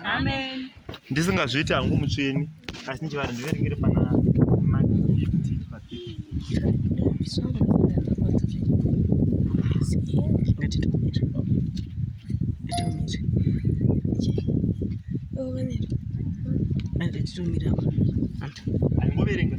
Amen. Ndisingazviiti hangu mutsvini asi ndichivari ndiveringire pana titomira angoverenga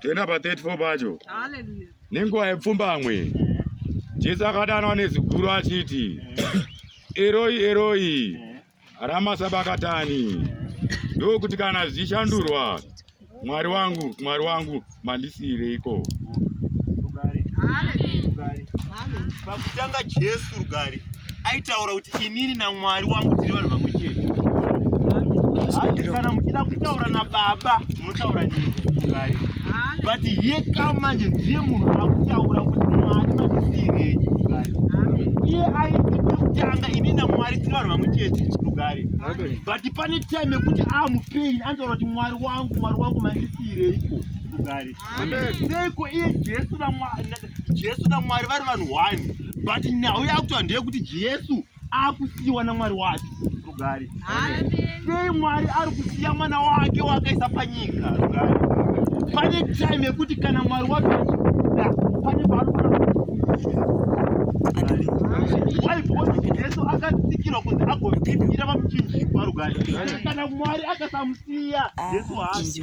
toenda pa 34 pacho nenguva yepfumbamwe jesu akadanwa neziguru achiti eroi eroi ramasabakatani ndokuti kana zvichishandurwa mwari wangu mwari wangu mandisiireiko pakutanga jesu rugare aitaura kuti inini namwari wangu tiri vanhu vamwe chete kana muchida kutaura nababa Unotaura nini ngayo? But ye kama manje ndiye munhu akutaura kuti mwari matisirei ngayo. Iye aiti kutanga ini na mwari tiri vanhu vamwe chete chirugare. But pane time yekuti amu pain anotaura kuti mwari wangu mwari wangu matisirei ko rugare. Seiko iye Jesu na mwari Jesu na mwari vari vanhu one. But nhau yakutoa ndeye kuti Jesu akusiyiwa namwari wacho rugare sei mwari ari kusiya mwana wake waakaisa panyika rugare pane time yekuti kana mwari wacho achikuda pane paanoaaijesu akatsikirwa kunzi agoira vamuchinjikwa rugare kana mwari akasamusiya jesu haasi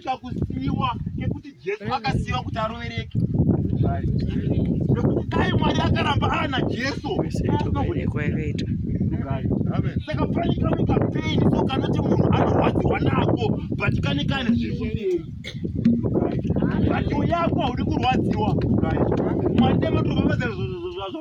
Kuita kusiyiwa nekuti Jesu akasiyiwa kuti arovereke. Nekuti dai Mwari akaramba ana Jesu. Saka pane kamwe kapeni so kanoti munhu anorwadziwa nako but kane kane zviri kumberi. But uyako haudi kurwadziwa. Mwari nematobabadzira zvozvo.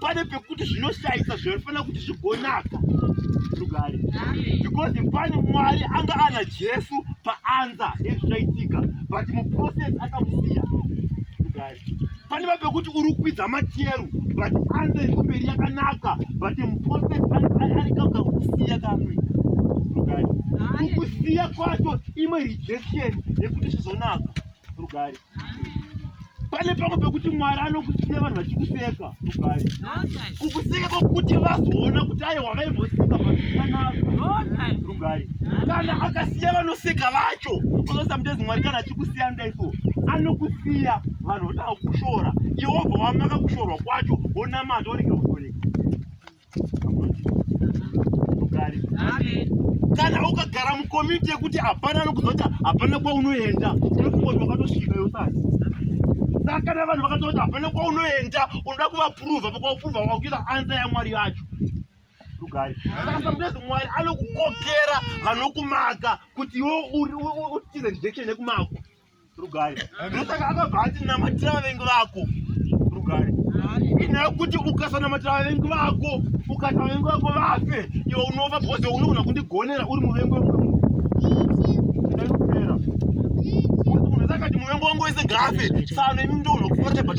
pane pekuti zvinoshaisa zvinofanira kuti zvigonaka rugare because pane mwari anga ana jesu paanza ezvichaitika but muprocess akamusiya rugare pane va pekuti uri kukwidza macheru but anza iri kumberi yakanaka but muprocess arikauza kukusiya kamwe rugare kukusiya kwacho imwe rejection yekuti zvizonaka rugare pane pamwe pekuti mwari anokusiya vanhu vachikuseka rugare kukuseka kwekuti vazoona kuti aye wavaimboseka pakanaka rugare kana akasiya vanoseka vacho ozosamutezi mwari kana achikusiya ndaiso anokusiya vanhu votaa kushora iwobva wamaka kushorwa kwacho wonamata oregera kana ukagara mukomiti yekuti hapana anokuzota hapana kwaunoenda unokungoti wakatosvika yosati saka kana vanhu vakatoti hapana kwaunoenda unoda kuvapuruva pakwapuruva wakuita ansa yamwari yacho rugari saka samutezi mwari anokukokera vanokumaka kuti iwo utize direction yekumako Rugare. Ndosaka akabva ati namatira vavengi vako. Rugare. Inyaya yekuti ukasanamatira vavengi vako ukati vavengi vako vafe iwe unofa because unogona kundigonera uri muvengi wemunhu. Ndakupera. Unozakati muvengi wangu wese gafe. Sano imi ndonokufata but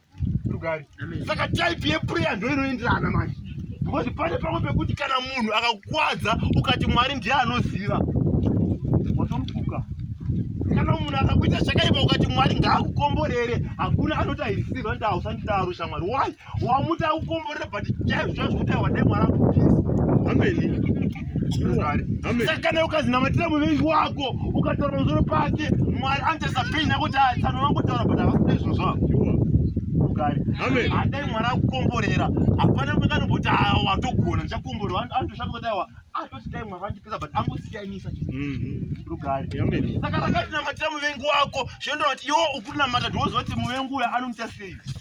rugare saka type yeprayer ndo inoenderana manje because pane pamwe pekuti kana munhu akakwadza ukati mwari ndiye anoziva watomufuka kana munhu akakuita zvakaipa ukati mwari ngaakukomborere hakuna anoti aisiva nda usandidaro shamwari why wamuti akukomborere but chaizvo zvazvo kuti aiwadai mwari akupisa ameni saka kana ukazinamatira muvengi wako ukataura musoro pake mwari anotarisa peni yako kuti tsano vangotaura but havasina izvo zvavo kugari adai mwana akukomborera hapana mwekanoboti awa watogona ndichakomborera anotosvaka kuti awa atoti dai mwana andipisa but angosiyanisa rugari mhm. saka rakatinamatira muvengi wako zvinondoa kuti iwo ukunamata ndinoziva kuti muvengi uyo anomuita sei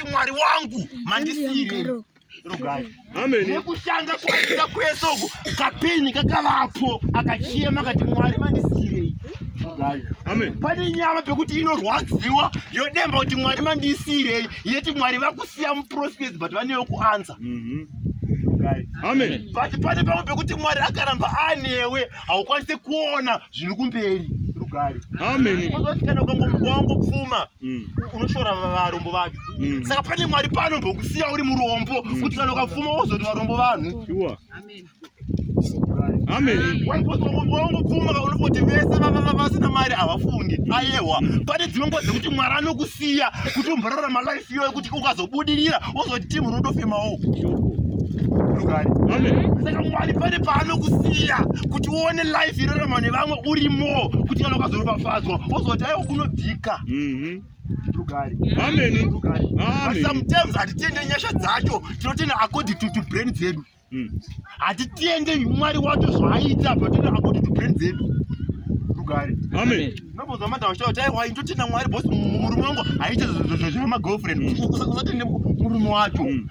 kuti mwari wangu mandisiire nekushanda kwaita kwese uku kapeni kakavapo akachema kati mwari mandisiirei pane nyama pekuti inorwadziwa yodemba kuti mwari mandisiirei yeti mwari vakusiya muprofesi but vanewo kuansa mhm. but pane pamwe pekuti mwari akaramba anewe haukwanise kuona zviri kumberi rugari kana ukangomuwangu pfuma Mm. unoshora varombo vacho mm. saka pane mwari pano mbokusiya uri murombo mm. kuti kana ukapfuma wozoti varombo vanhu wangopfuma unoti vese vasina mari havafungi ayewa pane dzimwe nguva dzekuti mwari anokusiya kuti umborara malife iyoyo kuti ukazobudirira wozoti timu rinotofemawo rugare saka mwari pane paanokusiya kuti uone life irarama nevamwe urimo kuti kana ukazorobafadzwa wozoti aiwa kunobvika ka mhm. sometimes hatitende nyasha dzacho tinotenda according to to brain dzedu mm. hatitende mwari wacho zvaaita but totenda according to brain dzedu rugare nobonza manda vachitaura kuti aiwa ndotenda mwari bos murume wangu haite zvamagirlfriend mm. usatende murume wacho mm.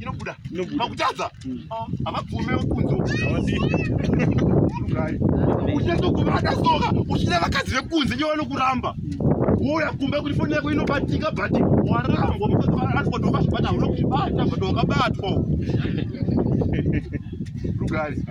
inobuda pakutadza mm. ah, havabvume kunzo uchazokuvada soka uchida vakadzi vekunze nyo vanokuramba uya kumba kuti foni yako inobatika but warambwa mukazivaaatwa ndokazvibata uno kuzvibata but wakabatwa rugari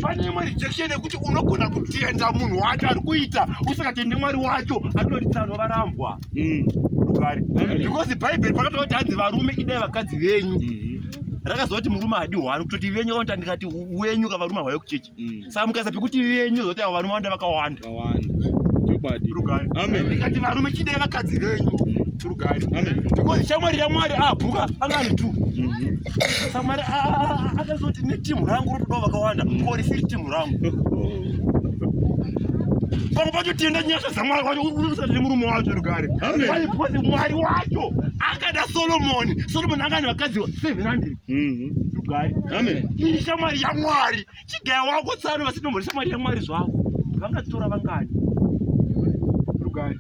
pane mwari jection yekuti unogona kutenda munhu wacho ari kuita usakatende mwari wacho atoritsano varambwa mm. rugare mm. because bhaibheri pakatoa kuti hanzi varume idai vakadzi venyu mm. rakazoti murume hadi hwani kutoti venyu vaonta ndikati wenyu ka varume hwayo kuchechi mm. saka mukasa pekuti venyu zoti avo varume vanda vakawanda rugare ndikati varume chidai vakadzi venyu rugare because shamwari yamwari abhuka ah, angani tu mm-hmm. shamwari ah, ah, akazoti netimu rangu rotodawo vakawanda mm. kori siri timu rangu pamwe pacho tienda nyasha dzamwari wacho unosati nemurume wacho rugare because mwari wacho akada solomoni solomoni anga ane vakadzi seven hundred mhm. rugare iri shamwari yamwari chigaya wako tsano vasinombori shamwari yamwari zvavo vangatora vangani rugare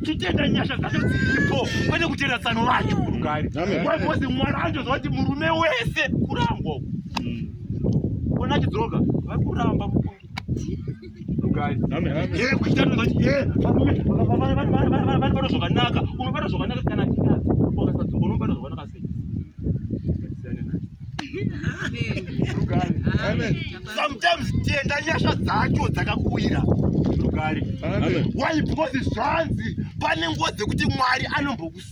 titenda nyasha dzacho dziripo pane kutenda tsano vacho rugare because mwari anjozva kuti murume wese kurangwa uku Ona chidzoka. Vakuramba mukuru. vanobata zvakanaka unobata zvakanaka kana unobata zvakanaka sei sometimes tienda nyasha dzacho dzakakuwira rugare why because zvanzi pane nguva dzekuti mwari anombokus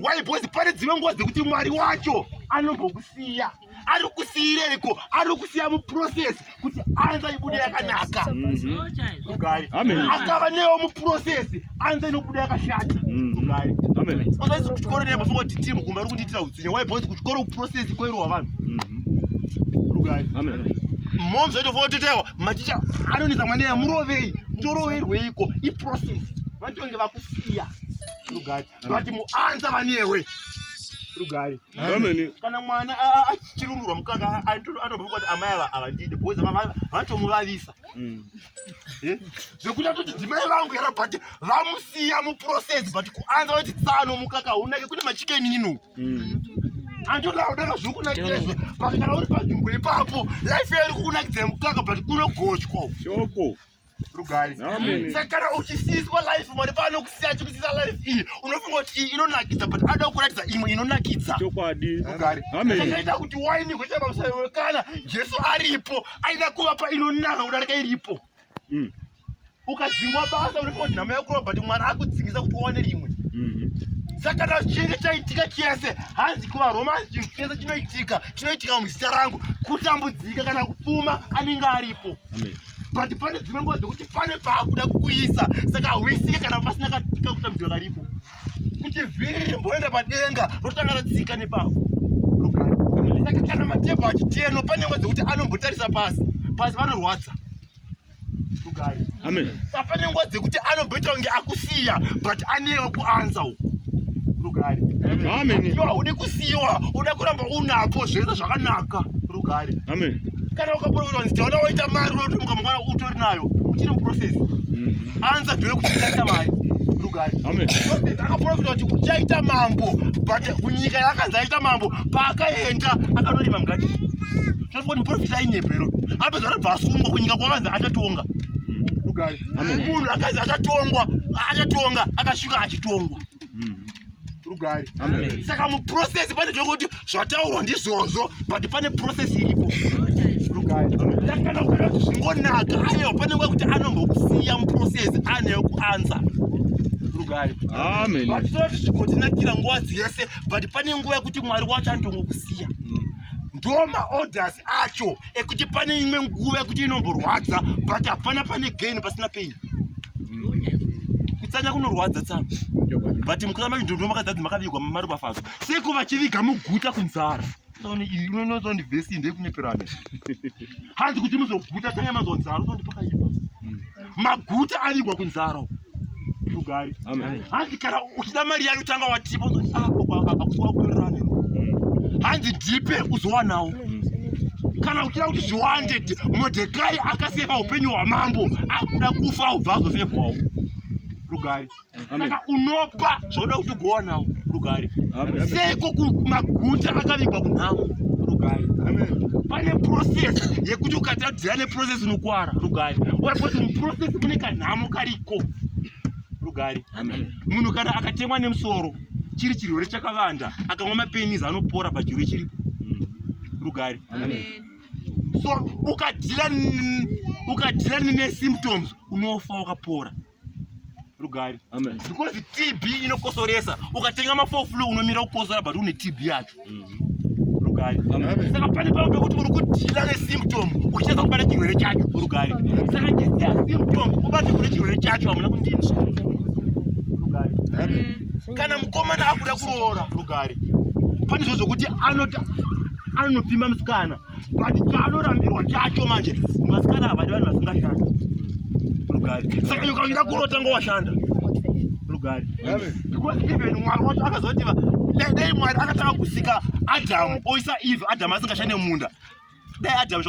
why because pane dzimwe nguva dzekuti mwari wacho anombokusiya ari kusiireko ari kusiya muprocess kuti anza ibude yakanaka mm-hmm. akava newo muprocess anza inobuda yakashata usaisi kuchikoro nemafuma kuti timu kumba ri kundiitira utsinye why because kuchikoro kuprocess kwerowa vanhu mm-hmm. mom zvaitofototewa maticha anonisa mwana yamurovei ndoroverweiko iprocess vatonge vakusiya Rugari. Vati muanza vanewe. Rugari. Ameni. Kana mwana achirumurwa mukaka anobva kuti amai ava avandide because vatomuvavisa. Mm. Eh? Zvekuti atoti dzimai vangu yara but vamusiya muprocess but kuanza vati tsano mukaka unake kune machikeni ino. Mm. Andoda kudaka zvokunakirezvo pakagara uri panzvimbo ipapo life yari kukunakidza mukaka but kunogochwa. Shoko. rugai sakara uchisiyiswa life mwari paanokusiya achikusiyisa life iyi unofunga kuti iyi inonakidza but anoda kuratidza imwe inonakidza chokwadi rugari akaita kuti waini kuita pamusaiwe kana jesu aripo aida kuvapa inonaka kudarika iripo mm. ukadzingwa basa unofunga kuti nhamo yakurova but mwari akudzingisa kuti uwane rimwe mm-hmm. saka na chinenge chaitika chese hanzi kuvaroma hanzi chinhu chese chinoitika chinoitika muzita rangu kutambudzika kana kupfuma anenge aripo Amen. but pane dzimwe nguva dzekuti pane paakuda kukuisa saka hauisike kana pasina kakutambidzwa karipo kuti vhiri rimboenda padenga rotanga ratsika nepavo saka kana matebho achiteno pane nguva dzekuti anombotarisa pasi pasi vanorwadza rugari sa pane nguva dzekuti anomboita kunge akusiya but anewo kuanza uku rugari iwe haude kusiyiwa uda kuramba unapo zvese zvakanaka rugari kana ukaporovera kuti taona waita mari unotomuka mangwana utori nayo uchiri muprocess mm. anza dhure kuti uchaita mari akaprofita kuti uchaita mambo but kunyika yaakanzi aita mambo paakaenda akanorima mgati tinotokuti muprofita ainyepero apedza anobva asungwa kunyika kwakanzi achatonga munhu akanzi achatongwa achatonga akasvika achitongwa rugare saka muprocess pane zvekuti zvataurwa ndizvozvo but pane process iripo rugare ndakana kuona kuti zvingonaka anewo pane nguva kuti anombokusiya muprocess anewo kuansa rugare vatoti zvigotinakira nguva dzese but pane nguva yekuti mwari wacho anotongokusiya mm. ndo maorders acho ekuti pane imwe nguva yekuti inomborwadza but hapana pane gain pasina pain kutsanya kunorwadza tsana but mukutama kuti ndondiwo makadzadzi makavigwa mari bafazo seko vachiviga muguta kunzara unozondivhesi ndekuneperane hanzi kuti muzoguta tsanya mazonzara uzondipakaipa maguta avigwa kunzara tugari hanzi kana uchida mari yayo tanga watipa akusiwakuerane hanzi ndipe uzowanawo kana uchida kuti zviwande modhekai akasefa upenyu hwamambo akuda kufa ubva azosefwawo tugari saka unopa zvoda kuti ugowana rugare seiko kumaguta akavigwa kunhamo rugare pane process yekuti ukatadzira neprocess unokuwara rugare wekuti muprocess mune kanhamo kariko rugare munhu kana akatemwa nemusoro chiri chirwere chakavanda akamwa mapenis anopora pachirwere chiripo mm. rugare so ukadhira nesymptoms unofa wakapora rugare because tb inokosoresa ukatenga mafoflu unomira kukosora but une tb yacho rugare saka pane pavo pekuti uri kudhila nesymptom uchiedza kubata chirwere chacho rugare saka chisiya symptom ubate kune chirwere chacho hamuna kundinzwa rugare kana mukomana akuda kuroora rugare pane zvo zvokuti anopima musikana but chaanorambirwa chacho manje masikana ava ndi vanhu vasingashanda rugari saka nyoka unoda kurotanga washanda rugari because even mwari wacho akazoti dai mwari akatanga kusika adamu oisa eve adamu asingashande munda dai adamu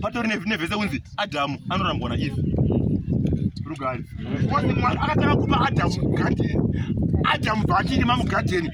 patori nevese kunzi adamu anorambwa na eve rugari because mwari akatanga kupa adamu gadheni adamu bvaachirima mugadheni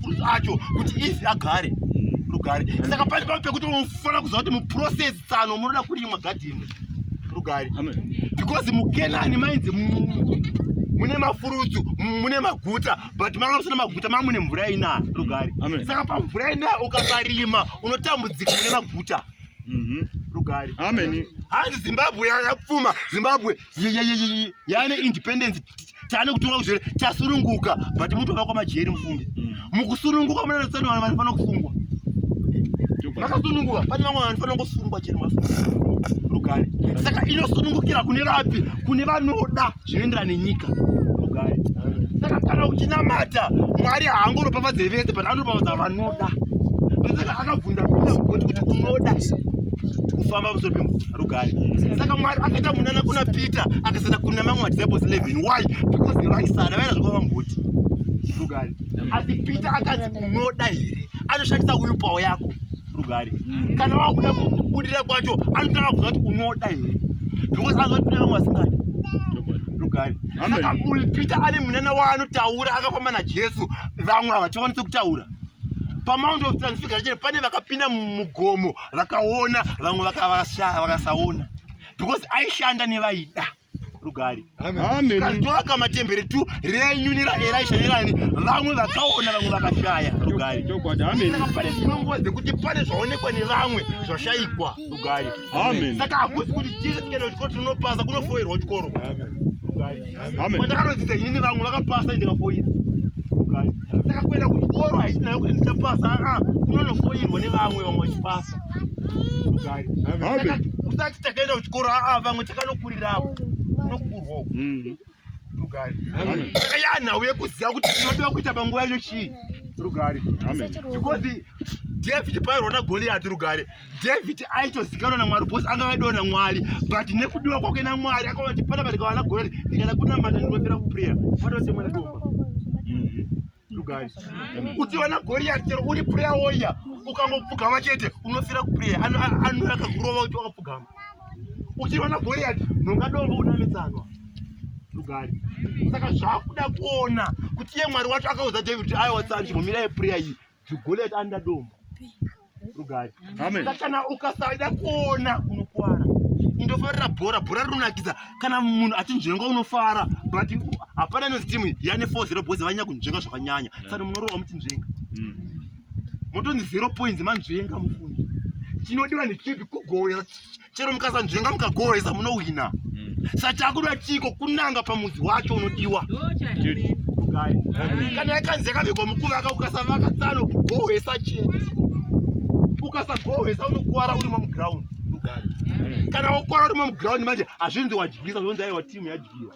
mapurisa acho kuti ifi agare rugare saka pane pano pekuti unofanira kuziva kuti muprocess tsano munoda kurimwa gadheni rugare because mukenani mainzi mune mafurutsu mune maguta but manga musina maguta manga mune mvura inaya rugare saka pamvura inaya ukakarima unotambudzika mune maguta mhm. rugare ameni hanzi zimbabwe yapfuma zimbabwe yane independence tane kutonga kuzvere tasununguka but mutova kwamajeri mufunge mm. mukusununguka munana tsani vanhu vanofana kusungwa makasununguka pane vamwe vanhu fanira kusungwa chero rugare saka inosunungukira kune vapi kune vanoda zvinoenderana nenyika rugare saka kana uchinamata mwari haangoropafadze vese but anoropafadza vanoda saka akabvunda kuti unoda kufamba musoro pemvura rugare saka mwari akaita munana kuna peter akasana kuna mamwe madisciples 11 why because vaisada vaira zvakava mbuti rugare asi peter akanzi unoda here anoshandisa uyu pawo yako rugare mm. kana wakuda kubudira kwacho anotanga kuza kuti unoda here because anozoti kune vamwe vasingadi rugare saka uyu peter ane munana waanotaura akafamba najesu vamwe havachakwanisi kutaura pamount of transfiguration pane vakapinda mugomo vakaona vamwe vakasaona because aishanda nevaida rugari kazovaka matembere tu renyu neraeraisha nerani vamwe vakaona vamwe vakashaya rugari pane zvinonguva dzekuti pane zvaonekwa nevamwe zvashaikwa rugari saka hakusi kuti tiese tikenda kuchikoro tinonopasa kunofoirwa chikoro Kwandakarodzidza inini vamwe vakapasa ndikafoira. Ndakakwenda kuchikoro haisina yokuti ah, ndichapasa aa ah, kunonofoirwa nevamwe vamwe vachipasa. Usati takaenda kuchikoro aa ah, vamwe takanokurirapo unokurwawo. Mm. Rugari. Takaya nhau yekuziva kuti tinodiwa kuita panguva yacho chii. Rugari. Because David pairwa naGoliati rugari David aitozikanwa naMwari because anga aidiwa naMwari but nekudiwa kwake naMwari akaona kuti panapa ndikawana gore ndikada kunamata ndinopera kuprayer kwatose mwana doma mm-hmm. uchiwana goriyati chero uri prayer warrior ukangopfugama chete unofira kuprayer anouya akakurova kuti wakapfugama uchiwana goriyati nongadombo unamitsanwa lugari saka zvakuda kuona kuti iye mwari wacho akaudza david kuti aiwa tsani chimomira yeprayer iyi Jugolet anda dombo rugari kana ukasada kuona unokwara indofarira bhora bhora rinonakidza kana munhu achinzvenga unofara but hapana inozi timu yane four zero boys vanyanya kunzvenga zvakanyanya saka munorova muchinzvenga mm. motonzi zero points manzvenga mufundi chinodiwa nechipi kugoya chero mukasanzvenga mukagohwesa munowina mm. sachakuda chiko kunanga pamudzi wacho unodiwa kana yakanzi yakavigwa mukuvaka ukasavaka tsano gohwesa chete ukasagohwesa unokuvara uri mamuground kana wakwara uri mamuground manje hazvinzi wadyisa zvonzi aiwa timu yadyiwa